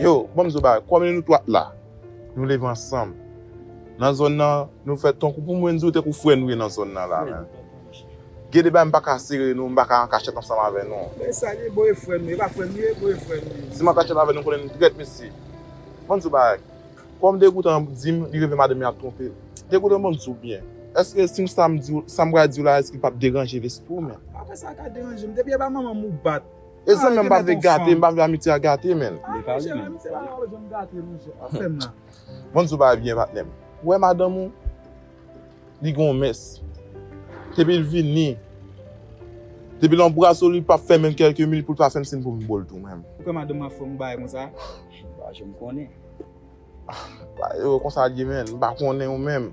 Yo, banm di w bagay, kòm nou tout la, nou leve ansanm, nan zòn nan, nou fè tankou, pou mwen di w, tankou frè nou ye nan zòn nan la menm. Gen de bagay m pa ka sere nou, m pa ka an kachèt ansanm avè nou. Men e sa l ye, bon e frè m yo, e pa frè m yo ye, bon e frè m yo. Si m an kachèt avè nou, m konnen nou trèt mesye. Banm di w bagay, kòm Degoutan an di m, li reve madanm li ap twonpe l. Degoutan banm di w byen, èske si m sa m di w, sa m pral di w la èske l pap deranje lespri w menm? Apa sa ka deranje m, depi e pa manman m ou bat, E zanmi an m pa vle gate, m pa vle amitye a gate menn. Li pale menn. Amitye pa ka janm gate non jè, pa fè m nan. Vanns ou pa byen patnè m. Ou wè madanm ou? Li gen yon mès. Depi l vini, depi l anbrase w li pap fè menm kèlke minit pou l pa fè m siyn pou m bo l tou menm. Ou kwè madanm ap fè yon bagay konsa? M pa janm konnen. Ba e konsa l ye menn, m pa konnen ou menm.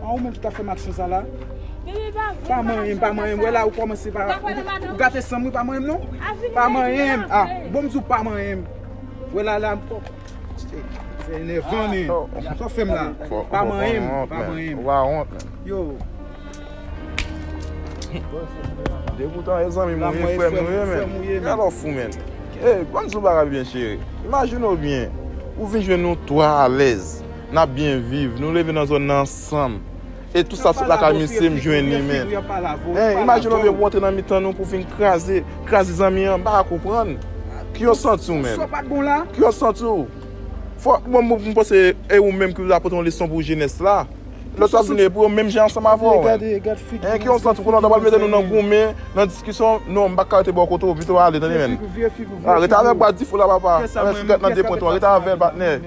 An ou menm ki tap fèm aksyon sa la. Pa manyenm, pa manyenm, wè la ou kòmanse pa Ou gate sanm wi pa manyenm non Pa manyenm, a, bon m di w pa manyenm Wè la la m kòk Se enèvan men, sa w fè m la Pa manyenm, pa manyenm Ou pa wont men Yo Degoutan e zanmi m ou ye, frè m ou ye men Gade lè w fou men Ey, ban m di w bagay byen cheri Imajine w byen Ou vin jwenn nou 3 alèz N ap byen viv, nou leve nan zòn nan ansanm. E tou sa sot lakay misye m jwenn li men. Hein, imajine w vye pou antre nan mitan nou pou vin kraze, kraze zanmi an, m pa ka konprann. Ki yo santi w menm? Ki yo santi w? Fò, bon m panse e ou menm ki vle apote yon leson pou jenès la. Lòt yo ap vin e pou yo menm jan ansanm avè w. Hein, ki yo santi w? Konnen w ta pral mete nou nan goumen, nan diskisyon. Non, m pa ka rete bò kote w, pito ale tande menn. Rete avè l bwa dife w la papa. Avè sigarèt nan de pwent ou an, rete avè l patnè.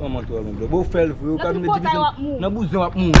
Manman tro renmen blòf. Bon ou fèl vre ou ka vin di misye nan bouzen wap mouri.